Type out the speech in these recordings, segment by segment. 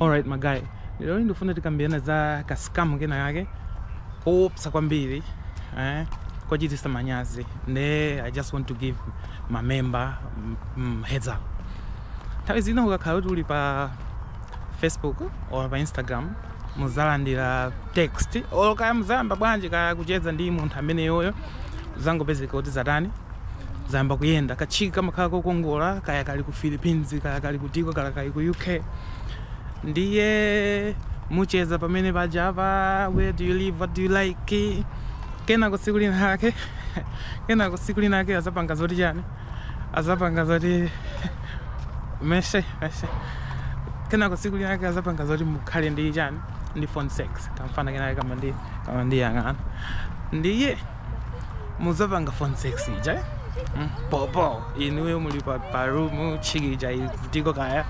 Alright my guy, lero ndifuna tikambirane za ka scam kenakake koopsa kwambiri eh, kochititsa manyazi nde I just want to give my members mm, mm, heads up. Nthawi zina ukakhala kuti uli pa Facebook or pa Instagram muzalandira text or kaya muzayamba bwanji kaya kucheza ndi munthu ameneyoyo zangopezeka kuti zatani zayamba kuyenda kachiki kamakhala kokongola kaya kali ku Philippines kaya kali kutiko kaya kali ku UK ndiye mucheza pamene pajapa where do you live what do you like kenako tsiku lina ake kenako tsiku lina ake azapanga zoti chani azapanga zoti meshe meshe kenako tsiku lina ake azapanga zoti mukhale ndi chani ndi phone sex kamfana kenake kama ndi kama ndi yang'ana ndiye muzapanga phone sex ija eh? mm, popo inuyo muli pa, pa room chiki ija ili kutiko kaya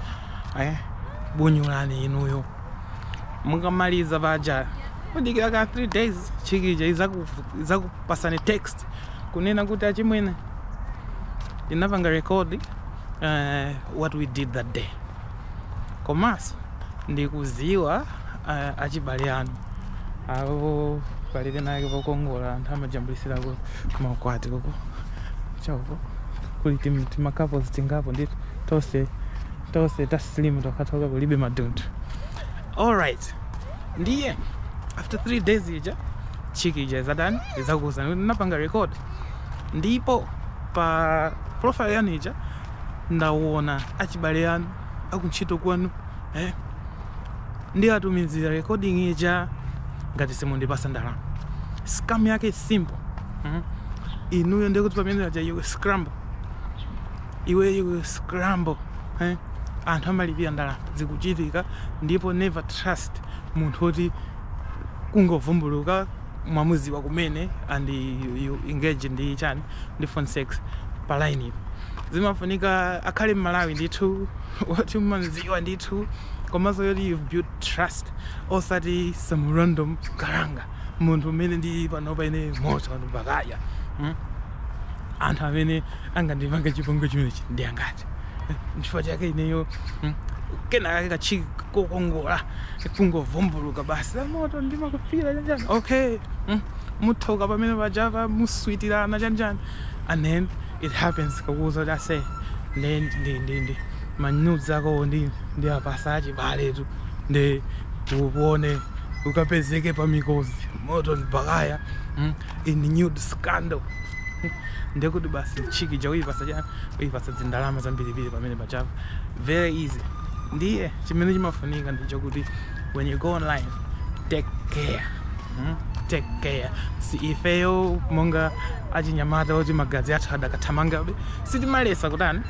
eh? bunyulani inuyo mukamaliza paja mudikira ka 3 days chiki ija izaku- izakupasani text kunena kuti achimwene ndinapanga record uh, what we did that day komanso ndikuziwa uh, achibale anu awo pali penapake pokongola anthu amajambulisira ku maukwati koko uko kuli timakapozi tingapo ndi tonse tonse ta slimu tokhatoka kulibe madunthu alright ndiye after three days ija chiki ija izatani izakuuzani kuti ndinapanga record ndipo pa profile yanu ija ndawona achibale anu akuntchito kwanu eh? ndiwatumizira recording ija ngati simundipasa ndalama scam yake is simple mm? inuyo ndiye kuti pamene paja iwe scramble iwe iwe scramble eh? anthu amalipira ndalama zikuchitika ndipo never trust munthu woti kungovumbuluka mwamuziwa kumene and you, you engage ndi chani ndi phone sex pa line ipo zimafunika akhale m'Malawi ndithu woti mumamuziwa ndithu komanso woti you've built trust osati some random kalanga munthu umene ndi panopa ine moto anthu Bakaya hmm? anthu amene angandipange chipongwe chimenechi ndi angati Eh, nchifukwa chake ineyo mm, kenakake kachiki kokongola kungovumbuluka basi aMoto ndimakufira chanjani okay mm, muthoka pamene pajapa muswitirana chanjani and then it happens kakuuza kuti ase ndi ndi ndi ndi manyudz akowo ndi ndiwapasa achibaletu ndi uone ukapezeke pa Mikozi Moto ndi Bakaya mm, in nude scandal ndiye kuti basi chiki ija uyipasa cha uyipasa zindalama zambirimbiri pamene pachapa very easy ndiye chimene chimafunika ndichokuti when you go online take care hmm? take care si ifeyo monga achinyamata oti magazi athu adakathamangabe Sitimalesa kutani?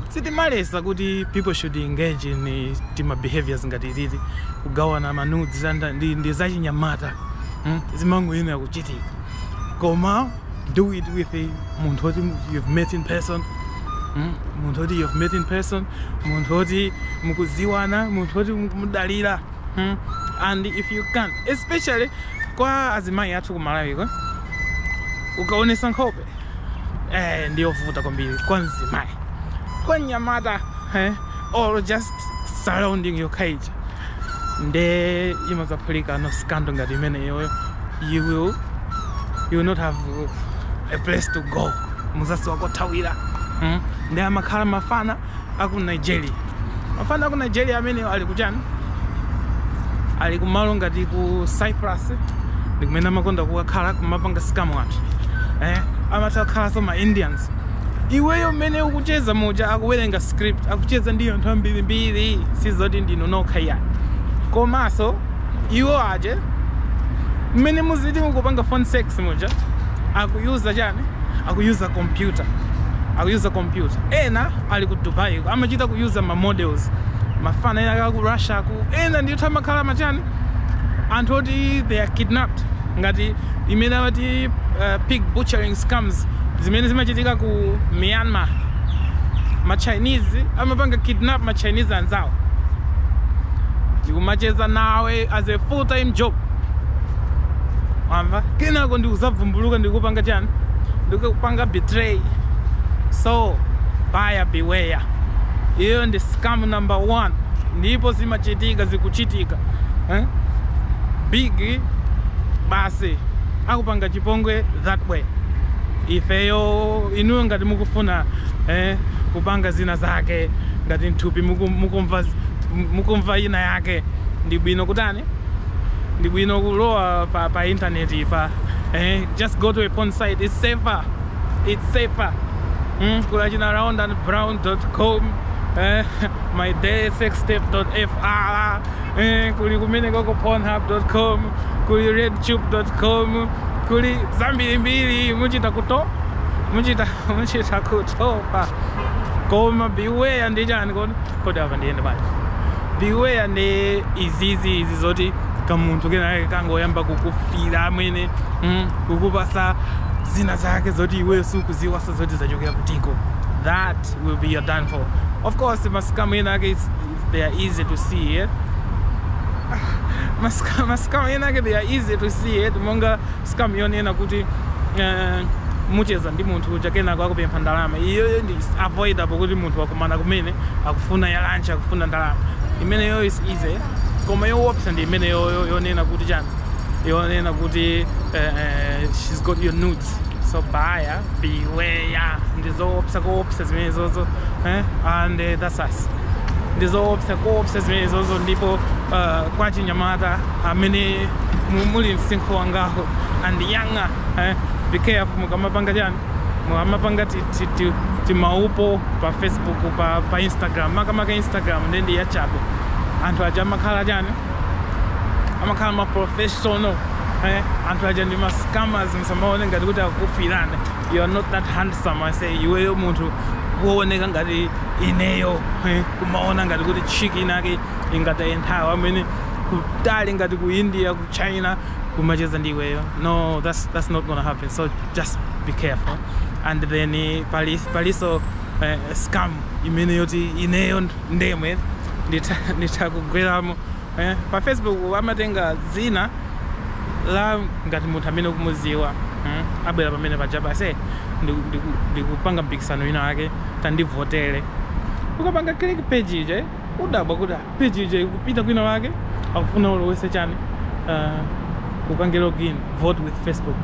Sitimalesa kuti people should engage in tima behaviours ngati ititi, kugawana ma nudes zanda ndi ndi zachinyamata mm zimangoyenera kuchitika koma do it with munthu oti you've met in person mm munthu oti you've met in person munthu oti mukuziwana munthu oti mukumudalira mm and if you can especially kwa azimayi athu ku Malawi ko ukaonesa nkhope eh, ndiyovuta kwambiri kwa mzimayi kwa mnyamata eh, or just surrounding yokha ija nde imazaphulika nude scandal ngati imeneyoyo you will you will not have a place to go muzasowa kothawira mm? nde amakhala mafana aku nigeria mafana aku nigeria amene ali kuchani ali kumalo ngati ku cyprus ndikumene amakonda kukakhala kumapanga sikamu anthu eh, amatha kukhalanso ma indians iweyo mmene ukucheza muja akuwerenga script akucheza ndi anthu ambirimbiri sizoti ndinu nokha ayi komanso iwo aja mmene muziti mukupanga phone sex muja akuyuza chani akuyuza kompyuta akuyuza kompyuta ena ali ku dubai ko amachita kuyuza ma models mafana ena kaka ku russia ku ena ndithu amakhala machani anthu oti they are kidnapped ngati imene amati uh, pig butchering scams zimene zimachitika ku myanmar ma chinese amapanga kidnap ma chinese anzawo ndikumacheza nawe as a full time job wamva kenako ndikuzavumbuluka ndikupanga chani ndikupanga betray so buyer beware iyo ndi scam number one ndipo zimachitika zikuchitika eh? big basi akupanga chipongwe that way ifeyo inuyo ngati mukufuna eh, kupanga zina zake ngati mthupi muku- mukumva z- m- mukumva ina yake ndi bwino kutani ndi bwino kulowa pa, pa internet pa eh, just go to a porn site it's safer it's safer mm, kuli achina round and brown.com eh, my day sextape.fr eh, kuli kumene koko pornhub.com kuli redtube.com kuli zambirimbiri muchita kuto muchita muchita kutopa koma beware ndi chani kodi kodi apa ndiyende bwanji beware ndi izizi izi zoti kamunthu kenake kangoyamba kukufira amene mm, kukupasa zina zake zoti iweyo sukuziwa sa zoti zachokera kutiko that will be your downfall of course ma scam ena ake is- they are easy to see eh? ma scam ena ake they are easy to see eh? monga scam yonena kuti uh, mucheza ndi munthu uja kenako akupempha ndalama iyoyo ndi avoidable kuti munthu wakumana kumene akufuna ya lunch akufuna ndalama imeneyo is easy koma yoopsa ndi imeneyo yonena kuti chani yonena kuti uh, uh, she's got your nudes so buyer beware ndizoopsa koopsa zimenezozo eh? and uh, that's us ndizoopsa koopsa zimenezozo ndipo uh, kwa chinyamata amene muli msinkhu wangaho and younger eh? be careful mukamapanga chani mukamapanga timawupu pa facebook pa, pa instagram makamaka instagram nde ndi yachabe anthu aja amakhala chani amakhala ma professional eh? anthu aja ndi mascammers musamaone ngati kuti akukufirani you are not that handsome aise iweyo munthu wooneka ngati ineyo eh? kumaona ngati kuti chick inake ingataye nthawi wa mmene kutali ngati ku india ku china kumacheza ndi iweyo no that's, that's not gonna happen so just be careful and then eh, pali palinso eh, scam imene yoti ineyo ndemwe nditha nditha kugweramo eh, pa facebook amatenga zina la ngati munthu amene ukumuziwa mm, abwera pamene paja aise eh, ndiku- ndiku- ndikupanga mpikisano wina wake tandivotere ukapanga click page ija eh, udabwa kuti ah, page ija ikupita kwina wake akufuna ulowese chani uh, upange login vote with facebook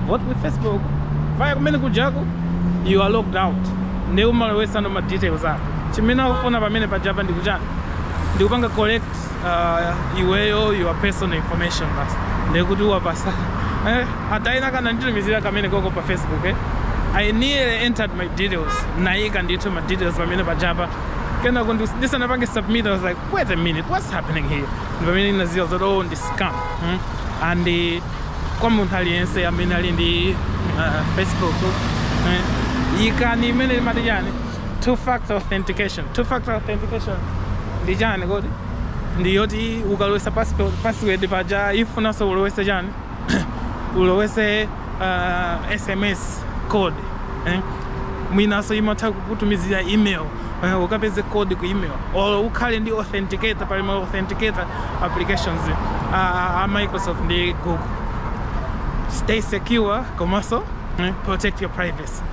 vote with facebook vaya kumene kujako you are logged out ndi umalowesa no ma details ako chimene akufuna pamene pajapo ndi kuchani ndi kupanga collect uh, iweyo your personal information basi ndi kuti wapasa eh, a tina kananditumizira kamene koko pa facebook eh. i nearly entered my details naika ndithu ma details pamene pajapo kenako ndisanapange submit i was like wait a minute what's happening here ndi pamene ndinaziwa zoti oh ndi scam mm? and eh, kwa munthu aliyense amene ali ndi eh, facebook eh, yikani imene limati chani two factor authentication two factor authentication ndi chani kodi ndi yoti ukalowesa password paja ifunanso ulowese chani ulowese uh, sms code eh? mwinaso imatha kukutumizira email eh, ukapeze code ku email or ukhale ndi authenticator pali ma authenticator applications uh, a microsoft ndi google stay secure komanso eh, protect your privacy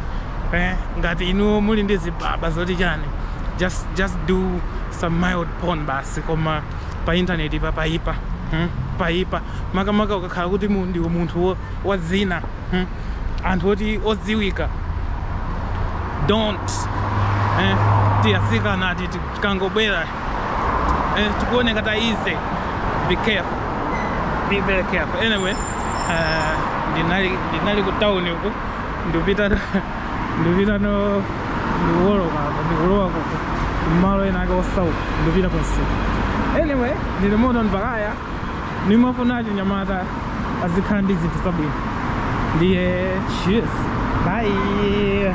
eh, ngati inuyo muli ndi zibaba zoti chani just, just do some mild porn basi koma pa intaneti paipa hmm? paipa makamaka ukakhala kuti mu, ndiwe munthu wa, wa dzina hmm? anthu oti odziwika don't eh? tiatsikana ati tikangobwera eh? tikuoneka ta easy be careful be very careful anyway uh, ndinali, ndinali ku town uku ndipita ndipitano ndikuwoloka apa ndikulowa ku- ku- kumalo ena ake osauka ndipita konseko anyway ndili moto mpakaya nimafuna achinyamata azikhala ndi zinthu zabwino ndiye cheers bye